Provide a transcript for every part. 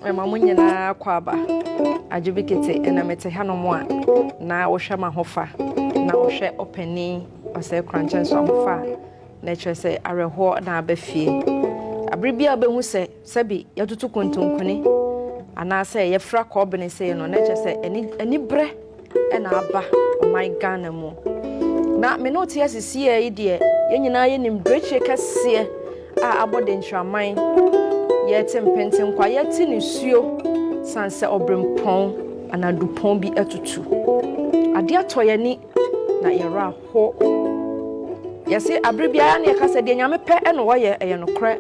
ɛma mo nyinaa kɔ aba agye bi kete ɛna mete hanom a na wohwɛ ma ho fa na wohwɛ ɔpani ɔsɛ korankyɛ nso ahofa a na ɛkyerɛ sɛ awerɛhoɔ na aba fie abere bi a wobɛhu sɛ Sɛbe yɛtoto kontonkone anaasɛ yɛfra kɔɔbene sei no, na ɛkyɛ sɛ ɛne anibrɛ na aba ɔman Ghana mu. Na me ne wote ase sieɛ yi deɛ, yɛn nyinaa yɛnim berɛkyire kɛseɛ a abɔ denkyiraman. Yɛte mpenten kwa, yɛte nisuo sane sɛ ɔberempɔn anaa dupɔn bi atutu. Adeɛ atɔ yɛn ani. na yɛn werɛ aho. Yɛse abere biara na yɛka sɛ deɛ nyame pɛ na wɔyɛ ɛyɛ nokorɛ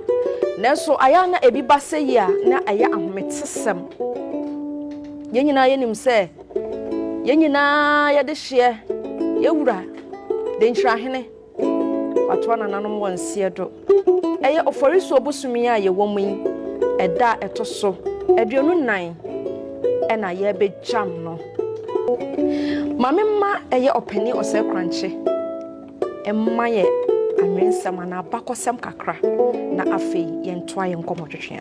nanso ayɛ a na ebi ba sɛ yi a na ɛyɛ ahometesɛm. Yɛn nyinaa yɛnim sɛ yɛn nyinaa yɛde hyeɛ yɛwura denkyirahene Wɔatoa nananom wɔ nseɛ do. Ɛyɛ Oforisuo bosome yi a yɛwɔ mu yi ɛda a ɛto so aduonu nan ɛna yɛbɛgyam no. Maame mma ɛyɛ ɔpanin Ɔsɛekrankye mma yɛ anwensɛm anaa abakɔsɛm kakra na afei yɛntoa yɛn nkɔmmɔtwetweɛ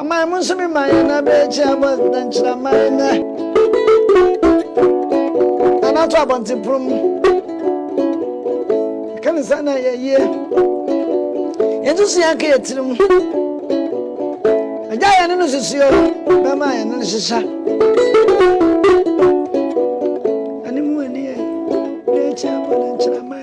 Aman mu nso me man na bere akyi abɔ dɛnkyiraman nɛ Anato abɔnten pono mu Ɛka ne saa na yɛ yie Yɛnso so yɛnka yɛ tiri mu Agya yɛne no susuo Bɛma yɛne no hyehya Anim wɔ nie Bere akyi abɔ dɛnkyiraman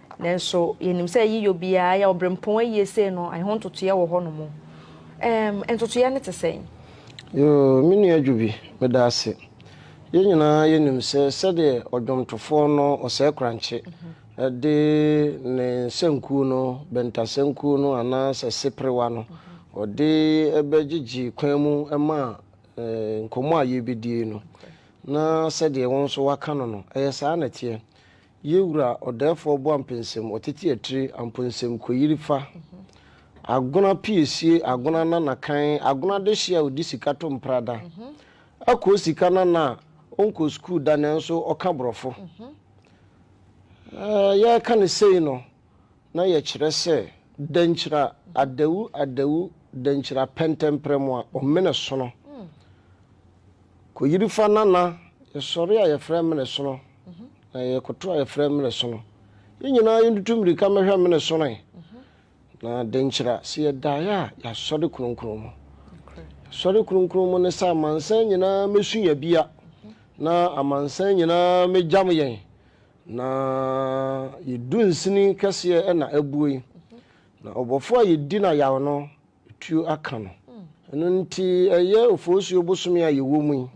Nanso yɛnim sɛ yiyɔ biara yɛ ɔberempɔn ayie sei no, ɛho ntotoeɛ wɔ hɔnom. Ɛɛm, ntotoeɛ no te sɛn? Yoo, me nua Dwobi, meda ase. Yɛn nyinaa yɛnim sɛ sɛdeɛ ɔdwomtofoɔ no Osei-Korankye de ne nsankuo no, Bɛnta sankuo no anaa sɛ Seperewa no, ɔde bɛgyegye kwan mu ma nkɔmmɔ a yɛrebɛdie no, na sɛdeɛ wo nso woaka no no, ɛyɛ saa na ɛteɛ. Yɛ wura ɔdɛɛfoɔ boampensem ɔtete atire amponsem koyiri fa agona piesie agona nana kan agona dehye a ɔdi sika to mpra da akoo sika nana a ɔnkɔ sukuu da nanso ɔka borɔfo eh yɛreka ne sei no na yɛkyerɛ sɛ dankyira adawu adawu dankyira pɛntɛmprɛmu a ɔmene sono kɔyiri fa nana yɛsɔre a yɛfrɛ amene sono na yɛkoto a yɛfrɛ amene sono yɛn nyinaa yɛntutu mmirika mmɛhwɛ amene sonoe na dankyira sɛ yɛdaeɛ a yɛasɔre kronkron mu yɛsɔre kronkron mu ne sɛ amansan nyinaa mɛsu yɛbea na amansan nyinaa mɛgyam yɛn Na yɛ dunsini kɛseɛ na abue, na ɔbɔfoɔ a yɛdi no ayaw no, tuo aka no. Ɛno nti ɛyɛ Oforisuo bosome a yɛwɔ mu yi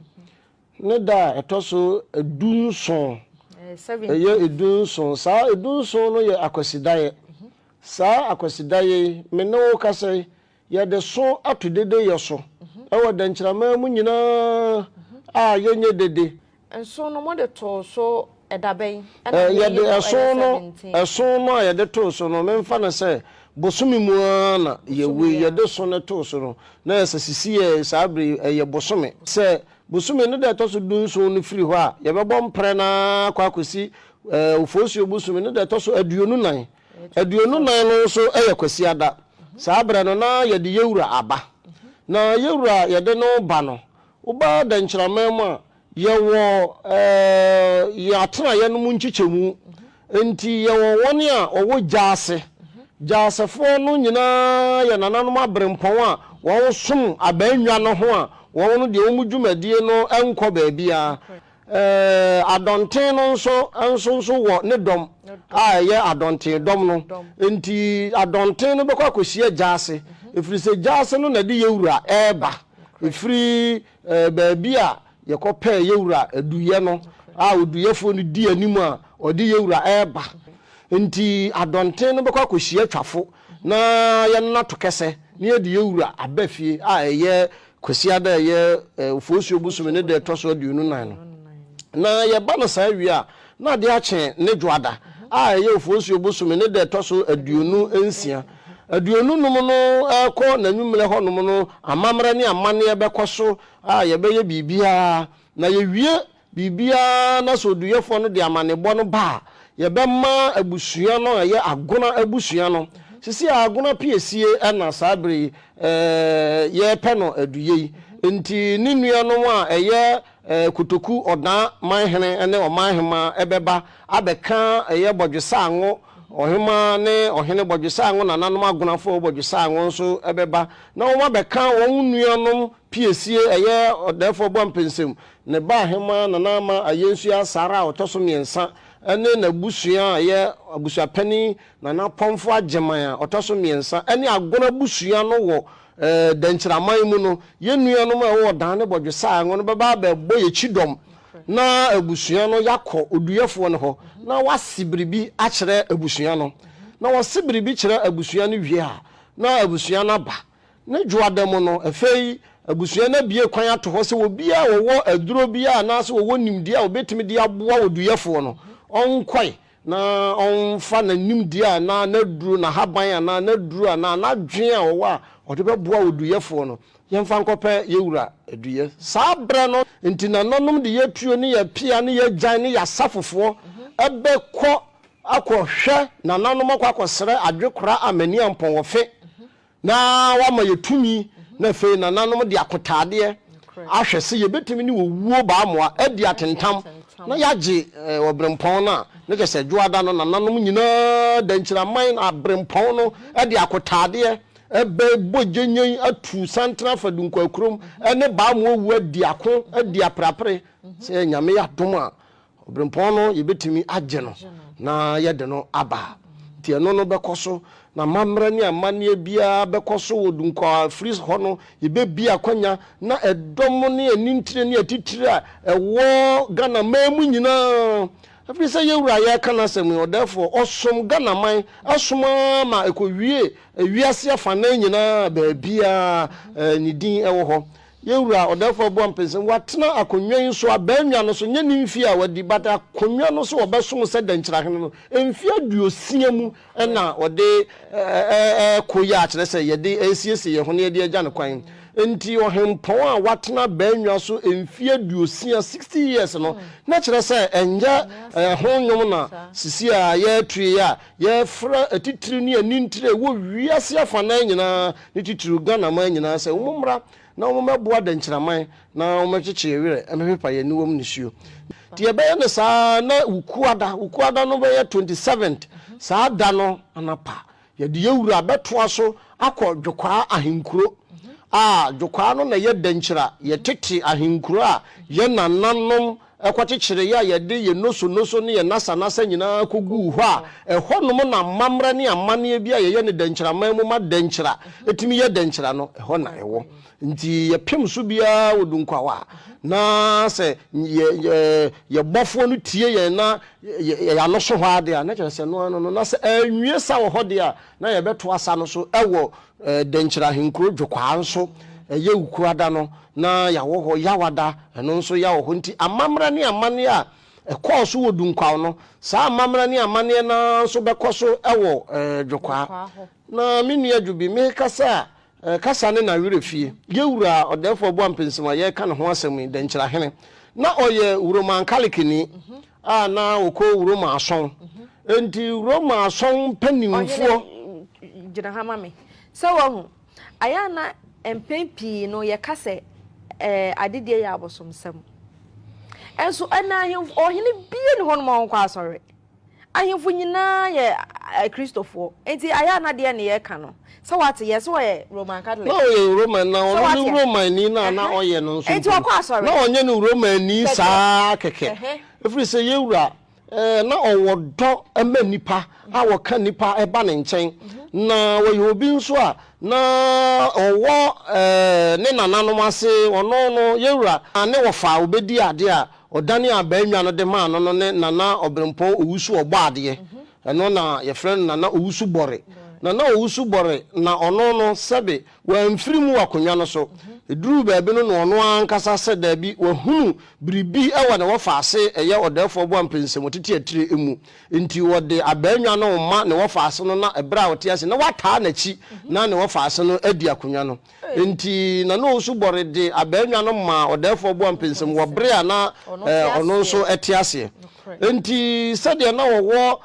ne da a ɛtɔ so du nson, ɛyɛ du nson, saa du nson no yɛ Akwasidaeɛ. Saa Akwasidaeɛ yi, me ne wo kasa yi, Yɛde so ato dede yɛ so wɔ dɛnkyɛrɛmma mu nyinaa a yɛnyɛ dede. Nson no mode too so da bɛn na ne yɛ no yɛ seventeen? Ɛso no a yɛde too so no memfa no sɛ bosome mu ara na yɛwui. Yɛde so no too so no na ɛyɛ sɛ sisiiɛ saa berɛ yi ɛyɛ bosome. Sɛ bosome no da a ɛtɔ so dunson no firi hɔ a, yɛbɛbɔ mprɛ no ara akɔ akɔsi Ofosuo bosome no da a ɛtɔ so aduonu nan. Aduonu nan no nso yɛ Kwasiada. Saa berɛ no na yɛde yɛwura aba. Na yɛwura a yɛde no ba no, woba Dɛnkyiraman mu a, yɛwɔ yɛn atenaeɛ no mu nkyekyɛmu. Enti yɛwɔ wɔn a wɔwɔ Gyaase. Gyaasefoɔ no nyinaa yɛ nananom aberempɔn a wɔsom abannwa no ho a wɔn no deɛ wɔn dwumadie no nkɔ baabiara. Adɔnten no nso nso nso wɔ ne dɔm a ɛyɛ adɔnten dɔm no. Enti adɔnten no bɛkɔ akɔhyia gya ase, ɛfiri sɛ gya ase no na ɛde yɛn Wura reba firi baabi a yɛkɔpɛɛ yɛn Wura aduiɛ no, a oduiɛfoɔ no di anim a ɔde yɛn Wura reba. Enti adɔnten no bɛkɔ akɔhyia twafo na yɛnnato kɛsɛ na yɛde yɛn Wura aba fie a ɛyɛ Kwasiada a ɛyɛ Oforisuo bosome no da a ɛtɔ so aduonu nan no. Na yɛba no saa wie a, na adeɛ akye ne Dwoada a ɛyɛ Oforisuo bosome no da a ɛtɔ so aduonu nsia. Aduonu nom no rekɔ n'anwummerɛ hɔnom no, amammerɛ ne amanneɛ bɛkɔ so a yɛbɛyɛ biribiara na yɛwie Biribiara na sɛ oduyɛfoɔ no de amanebɔ no ba a, yɛbɛma abusua no a ɛyɛ Agona abusua no. Seesei a Agona piesie na saa berɛ yi yɛrepɛ no aduyɛ yi nti, ne nuanom a ɛyɛ Kotoku Ɔdaa manhene ne ɔmanhemaa bɛba abɛka ɛyɛ Bɔdwesaango ɔhemaa ne ɔhene Bɔdwesaango nananom Agonafoɔ Bɔdwesaango nso bɛba na wɔabɛka wɔn nuanom Piesie, ɛyɛ Ɔdɛɛfoɔ Boampensem, ne ba Ahemaa Nana Ama Ayensuah Sarah a ɔtɔ so mmiɛnsa ne n'abusua a ɛyɛ Abusuapanin Nana Apɔmfo Agyeman a ɔtɔ so mmiɛnsa ne Agon abusua no wɔ Dankyiraman mu no, yɛn nuanom a ɛwɔ Ɔdan ne Bɔdwesaa ngo no bɛba abɛbɔ yɛn kyidɔm na abusua no yɛakɔ oduyɛfoɔ no hɔ na wase biribi akyerɛ abusua no. Na ɔse biribi kyerɛ abusua no wie a, na abusua no aba. Ne Gyoada mu no, ɛfei abusua no abue kwan ato hɔ sɛ obiara a ɔwɔ aduro biara anaasɛ ɔwɔ nimdeɛ a ɔbɛtumi de aboa oduyɛfoɔ no, ɔnkɔe na ɔmfa n'animdeɛ anaa n'aduro, n'ahaban anaa n'aduro anaa n'adwene a ɔwɔ a ɔde bɛboa oduyɛfoɔ no, yɛmfa nkɔpɛ yɛn wura aduyɛ. Saa berɛ no, enti nananom de yɛatuo ne yɛapea ne yɛagyan ne yɛasafofoɔ bɛkɔ akɔhwɛ nananom akɔ akɔsrɛ adwekora Amania Mpɔn wɔ Fe Na wama yɛ tumi, na afei nananom de akotaadeɛ ahwɛ se yɛbɛtumi ne owuo baamoa adi atentam na yɛagye Ɔberempɔn no a, na kyerɛ sɛ Dwoada no nananom nyinaa da nkyiraman na Aberempɔn no de akotaadeɛ bɛbɔ gyɛnnyɛn atu santene afa Dunkwaa kurom ne baamoa owuo adi ako, adi aperapere. Sɛ Nyame yɛ adom a, Obirɛmpɔn no yɛbɛtumi agye no na yɛde no aba. Nti ɛno no bɛkɔ so na amammerɛ ne amanneɛ biara bɛkɔ so wɔ Dunkwa a ɛfiri hɔ no yɛbɛbie akwanya na ɛdɔm ne anintire ne atitire a ɛwɔ Ghana man mu nyinaa ɛfiri sɛ yɛn wura yɛreka n'asɛm yi ɔdɛɛfoɔ ɔsom Ghana man asom ara ma ɛkɔwie wiase afanan nyinaa baabiara ne din ɛwɔ hɔ Yɛn Wura, Ɔdɛɛfoɔ Abu Ampin se, Watena akonnwa yi so, abannwa no so, nyɛ ne mfie a wadi, but akonnwa no so a ɔbɛsom sɛ Dankyirahene no, mfie aduosia mu na ɔde ɛɛko yɛ a kyerɛ sɛ yɛde ɛɛsiesie yɛn ho na yɛde agya no kwan. Enti Ɔhempɔn a watena abannwa so mfie aduosia, sixty years, no, na kyerɛ sɛ ɛnyɛ ɛho nnwom na sisi a yɛatue a Yɛfrɛ atitire ne anintire a ɛwɔ wiase afanan nyinaa ne titiriw Ghanaman nyinaa sɛ wɔmmra na wɔmmɛboa Dɛnkyiraman na wɔmmɛkyekye yɛn werɛ, mmɛpepa yɛn aniwam nisuo. Nti yɛbɛyɛ no saa na Wukuada, Wukuada no bɛyɛ 27th, saa da no anapa yɛde yɛn wura bɛtoa so akɔ Dwokwaa ahenkuro a Dwokwaa no na ɛyɛ Dɛnkyira, yɛn tete ahenkuro a yɛn nananom Ɛkɔkyekyeree a yɛde yɛn nosonoso ne yɛn nasanasa nyinaa koguu hɔ a ɛhɔnom na amammerɛ ne amanneɛ bi a yɛyɛ no dɛnkyiraman mu ma dɛnkyira tumi yɛ dɛnkyira no, ɛhɔ na ɛwɔ. Enti yɛpem so biara wɔ dunkwawa a na sɛ yɛn Bɔfoɔ no tie yɛn na yɛn ano so hɔ ara de a, na kyerɛ sɛ ɛno ara no no, na sɛ anwie sa wɔ hɔ de a, na yɛbɛto asa no so wɔ Dɛnkyerɛ ahenkuro dwokwaa nso yɛ wukuada no na yɛawɔ hɔ yawada ɛno nso yɛawɔ hɔ nti amammra ne amanneɛ a ɛkɔɔ so wɔ Dunkwaw no saa amammra ne amanneɛ no ara nso bɛkɔ so wɔ Dwokwaa hɔ na me nua Dwobi mekasa a kasa ne nawerɛ fie yɛwura Ɔdɛɛfoɔ Boampɛnsim a yɛreka ne ho asɛm yi Dɛnkyerɛ Ahene na ɔyɛ Wuromankalekeni a na ɔkɔ Roma asɔn. Enti Roma asɔn mpanimfoɔ. Ɔhene gyina ha ma me. Sɛ wahu. Ayɛ a na mpɛn pii no yɛka sɛ ɛɛ adedie yɛ abosomsɛm. Nso ɛnna ahemfo ɔhene bie ne hɔ no ma ɔnkɔ asɔre. Ahemfo nyinaa yɛ Kristofoɔ. Enti ayɛ a na deɛ ne yɛka no Sɛ wate, yɛ sɛ ɔyɛ Roman Catholic. Na ɔyɛ Roman, na ɔno ne Romanni no a na ɔyɛ no nso mpo no, na ɔnyɛ no Romanni saa ara kɛkɛ, ɛfiri sɛ yɛn Wura, ɛɛ, na ɔwɔ dɔ ma nnipa a wɔka nnipa ba ne nkyɛn. Na ɔyɛ obi nso a na ɔwɔ, ɛɛ, ne nananom ase, ɔno no, yɛn Wura, na ne wɔfa a ɔbɛdi adeɛ a ɔdanee abaa nnwa no de maa no no ne Nana Ɔberempɔn Owusu Ɔbɔadeɛ, Ɛno na yɛfrɛ no Nana Owusu Bɔre. Nana Owusu Bɔre na ɔno no sɛbe wamfiri mu wɔ akonnwa no so. Ɛduruu baabi no na ɔno ara ankasa sɛ daabi wahunu biribi wɔ ne wɔfa ase ɛyɛ Ɔdɛɛfoɔ Boampɛ nsɛm ɔtete atire mu nti ɔde abaanwa no rema ne wɔfa ase no na ɛberɛ a ɔte ase na wataa n'akyi na ne wɔfa ase no adi akonnwa no Enti na Nuhu nso bɔre de abannwa no maa ɔdɛɛfoɔ boampensem wɔ bere a na ɔno nso te aseɛ. Enti sɛdeɛ na wɔwɔ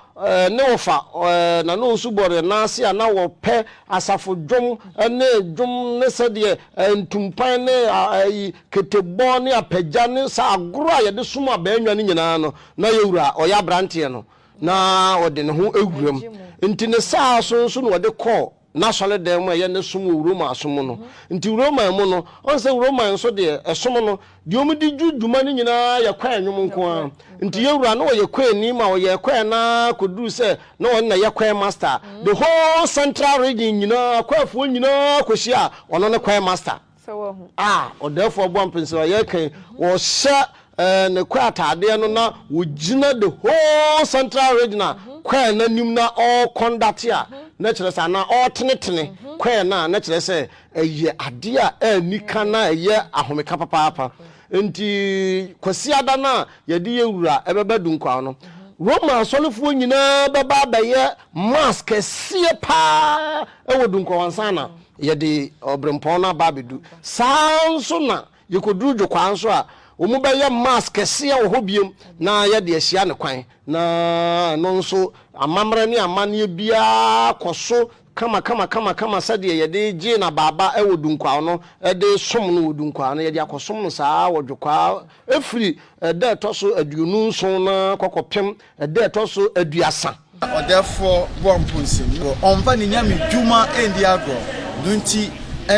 ne wɔfa na Nuhu nso bɔre no ase a na wɔpɛ asafo dwom ne dwom ne sɛdeɛ ntumpan ne ketebɔ ne apagya ne saa agorɔ a yɛde som abannwa no nyinaa no, na Ura a ɔyɛ abranteɛ no na ɔde ne ho wuram. Enti ne saa so nso na ɔde kɔɔ. n'asɔredan mu a ɛyɛ ne som wɔ Roma som mu no. Nti Roman mu no, ɔn sɛ Roman nso deɛ ɛsom no, deɛ wɔn di dwu dwuma no nyinaa yɛ kwae nnwom nko ara. Nti yɛn Wura no ɔyɛ kwae ni ma ɔyɛɛ kwae no ara kɔduruu sɛ na ɔno na ɛyɛ kwae master. The whole central region nyinaa, kwaefoɔ nyinaa kɔhyiaa ɔno ne kwae master. Sɛ wahu. A ɔdɛɛfoɔ bɔ mpensa no, ɔyɛ kan, ɔhyɛ ɛɛ ne kɔ ataadeɛ no na ɔgyina the whole central regional mm-hmm. kɔɛ no anim na ɔrekɔndate a mm-hmm. na kyerɛ sɛ anaa ɔretenetene mm-hmm. kɔɛ no a na kyerɛ sɛ ɛyɛ adeɛ a ɛni ka na ɛyɛ ahomeka papaapa nti kwasiada no a yɛde yɛ wura ɛbɛba dunkwaw no roma asɔrefoɔ nyinaa bɛba abɛyɛ mass kɛseɛ paa ɛwɔ dunkwaw ansa na Yɛde ɔberempɔn no aba abɛdu. Saa ara nso na yɛkɔduru dwokwaa nso a, wɔbɛyɛ Mass kɛseɛ wɔ hɔ bio na yɛde ahyia no kwan. Na ɛno nso, amammerɛ ne amanneɛ biara kɔ so kamakama sɛdeɛ yɛde gyee no abaaba wɔ Dunkwao no, de som no wɔ Dunkwao no, yɛde akɔsom no saa ara wɔ dwokwaa firi da a ɛtɔ so aduonu nson no ara kɔ kɔpem Ɛda a ɛtɔ so aduasa. Na ɔdɛfoɔ bɔ mponsem wɔ. Ɔmfa ne nyame dwuma ndi agorɔ. No nti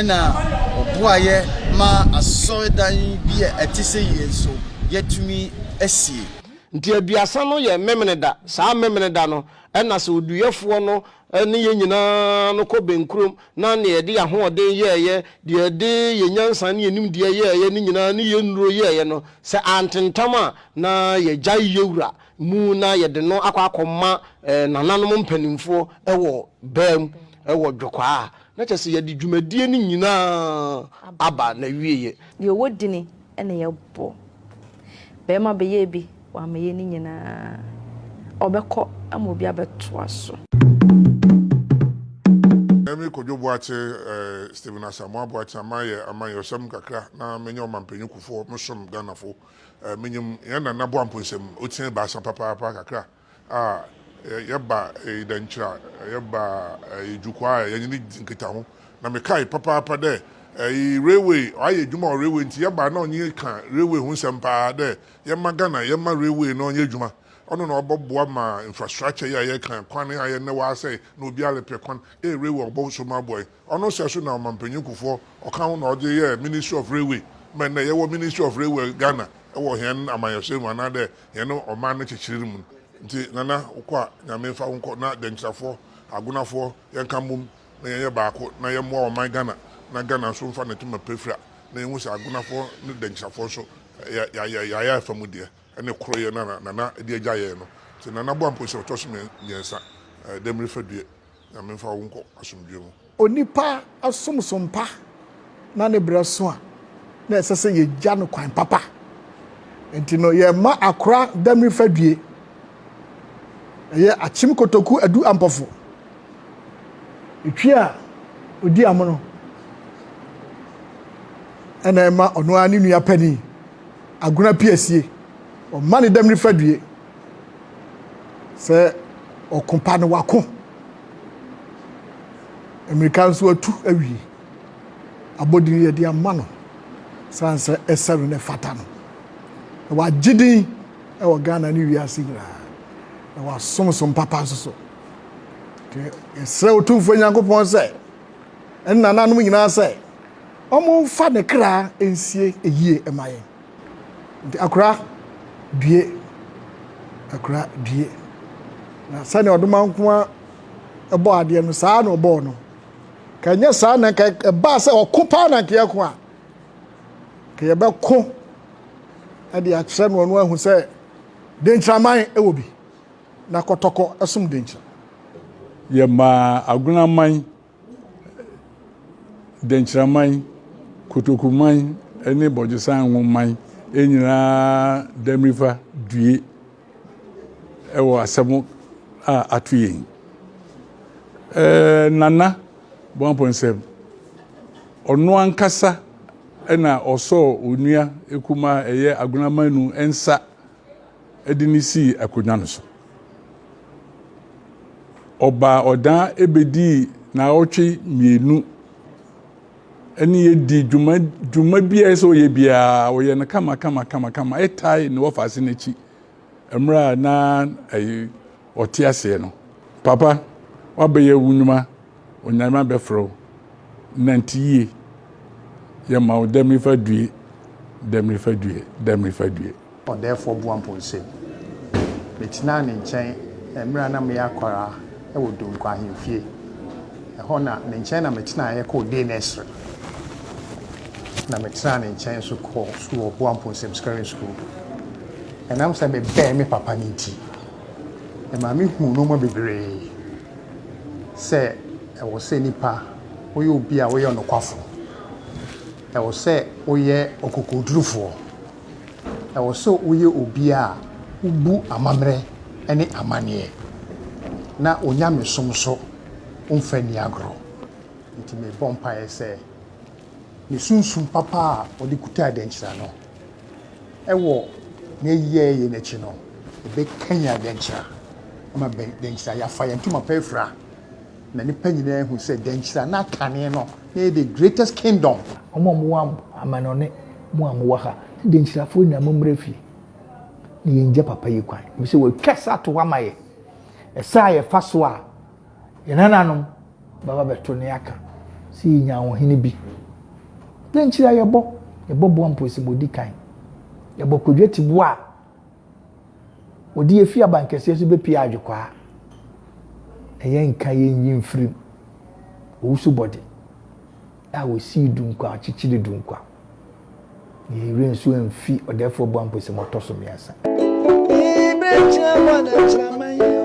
na ɔboaeɛ maa asɔredan bi a ɛte sɛ yei nso yɛatumi asie. Nti aduasa no yɛ Memeneda. Saa Memeneda no na sɛ oduyɛfoɔ no ne yɛn nyinaa no kɔ bɛnkurom na deɛ yɛde yɛn ahoɔden yɛeɛ, deɛ yɛde yɛn nyansa ne yɛn nimdeɛ yɛeɛ no nyinaa ne yɛn nnuro yɛeɛ no, sɛ antentam a, na yɛgyae yewura mu na yɛde no akɔ akɔma eh, nananom mpanimfoɔ wɔ baa mu wɔ dwokwaa a, na kyerɛ sɛ yɛde dwumadie no nyinaa aba n'awieɛ. Deɛ ɔwɔ dini na yɛbɔ. Barima bɛyɛɛ bi, wammɛyɛ ne nyinaa. Ɔbɛkɔ ama obi abɛtoa so. Emi Kojo Boakye eh, Stephen Asamoah Boakye, ama yɛ amanyɔsɛm kakra na menyɛ ɔmampanyinkufoɔ, mesom Ghanafo. Minyim hɛn Nana Boampo nsɛm, otsia ebiasa papaapa kakra a, yɛba Idankyira, yɛba Ijukwaa a yɛnye no dzi nkitaho. Na mekae papaapa dɛ railway, ɔayɛ edwuma wɔ railway ntsi yɛba a nna ɔnye yɛkã railway ho nsɛm paa dɛ yɛmma Ghana, yɛmma railway no ɔnyɛ edwuma. Ɔno na ɔbɔboa ma infrastructure yi a yɛkã, kwan yi a ayɛ ndɛ ɔasɛe na obiara repɛ kwan, dɛ railway ɔbɔsom aboa hɛn. Ɔno sɛ so na ɔmampanyin Kufour ɔka ho na ɔdze yɛɛ Ministry of Railway ma ndɛ yɛwɔ Ministry of Railway Ghana wɔ hɛn amanyɛsɛr mu anaa dɛ hɛn ɔman no kyekyerer mu no. Ntsi Nana wokɔ a Nyame mfa wo nkɔ na Dɛnkyirafoɔ, Agonafoɔ yɛnka mbom na yɛnyɛ baako na yɛmboa ɔman Ghana na Ghana nso mfa ne toma pirapira na yɛnhu sɛ Agonafoɔ ne Dɛnkyirafoɔ nso yɛ yɛayɛ afa mu deɛ ɛne koroyɛ no a Nana de agya yɛn no. Ntsi Nana Boampong sɛ ɔtɔ so mmiɛnsa dɛ mirifa due. Nyame mfa wo nkɔ asomdwoe mu. Onipa som so mpa na ne brɛ so a, na ɛsɛ sɛ yɛgya no kwan papa. Nti no, yɛmma akora damiri fadwie. Ɛyɛ akyem kotoku adu ampɔfo. Etwi a odi amono ɛna ɛma ɔno ara ne nua panin agona piasie. Ɔmma ne damiri fadwie sɛ ɔko pa no wako mmirika nso atu awie abɔdin yɛde ama no san sɛ ɛsɛ no na ɛfata no na wagye din wɔ ghana ne wiase nyinaa na wasom som papa nso so nti yɛsrɛ otumfoɔ nyankopɔn sɛ ɛne nananom nyinaa sɛ ɔmomfa ne kra nsie ɛyie ɛma yɛn Nti akora due, akora due. Na sɛnea ɔdomankoa bɔ adeɛ no saa na ɔbɔɔ no. Ka nyɛ saa na ka ɛbaa sɛ ɔko paa na nka yɛko a. Ka yɛbɛko de akyerɛ no ɔno ahu sɛ denkyiraman wɔ bi na kɔtɔkɔ som denkyira. Yɛmaa agunaman Dɛnkyiraman, kotokuman ne bɔgyesan ngo man nyinaa Damirifa due wɔ asɛm a ato yɛn. Ɛɛ Nana Boampɔnsɛm, ɔno ankasa na ɔsɔɔ onua kumaa ɛyɛ Agonamanu nsa de no sii akonnwa no so. Ɔbaa ɔdan bedii naawɔtwe mmienu ne yɛ dii dwuma dwuma bi a ɛsɛ ɔyɛ biara ɔyɛ no kama kama kama kama ɛtae ne wɔfa ase n'akyi mmerɛ a na ɛyɛ ɔte aseɛ no papa wabɛyɛ wo nnwuma Onyame bɛfrɛ wo, nante yie. Yɛma wo dɛ mefa due, dɛ mefa due, dɛ mefa due. Ɔdɛɛfoɔ Boampɔ nsam. Metenaa ne nkyɛn mmerɛ a na meyɛ akwadaa wɔ Donkwa ahemfie. Ɛhɔ na, ne nkyɛn na metenaeɛ kɔɔ Dei ne Esere. Na metenaa ne nkyɛn nso kɔɔ sukuu wɔ Boampɔ nsam Scaring School. Ɛnam sɛ mebɛn me papa no nti. Ɛma mehuu nnoɔma bebree sɛ ɛwɔ sɛ nipa woyɛ obi a woyɛ ɔnokwafo. Ɛwɔ sɛ woyɛ ɔkokodurufoɔ. Ɛwɔ sɛ woyɛ obi a wobu amammerɛ ne amanneɛ na onyamesom nso womfa nni agorɔ. Nti mebɔ mpaeɛ sɛ ne sunsum papa a ɔde kutaa dɛnkyira no, Wɔ n'ayi a ɛyɛ no akyi no, ɛbɛkanyan dɛnkyira ama dɛnkyira a yɛafa yɛn ntoma pa afira, na nnipa nyinaa ahu sɛ dɛnkyira na kane no na ɛyɛ the greatest kingdom. Mo a mowɔ amannɔne, mo a mowɔ ha, ne dɛnkyirafoɔ nyinaa mommra fie na yɛngya papa yi kwan, ɛfiri sɛ watwa sa ato hɔ ama yɛn. Ɛsa a yɛfa so a. Yɛn nananom bɛba bɛto ne aka sɛ yɛnya ahohene bi. Dɛn nkyiri a yɛbɔ? Yɛbɔ boa mposimodi kan. Yɛbɔ kwadwa tiboa a wɔde afi abankɛseɛ so bɛpie adwekwaa. Na yɛnka yɛnyi mfirim owusubɔde. A wosii dunkwa a ɔkyekyere dunkwa. Na yɛn werɛ nso amfi ɔdɛɛfoɔ bɔ a mpo sɛ moatɔ so mmiɛnsa. Ee berɛ atua hɔ na akyira ma yɛn o.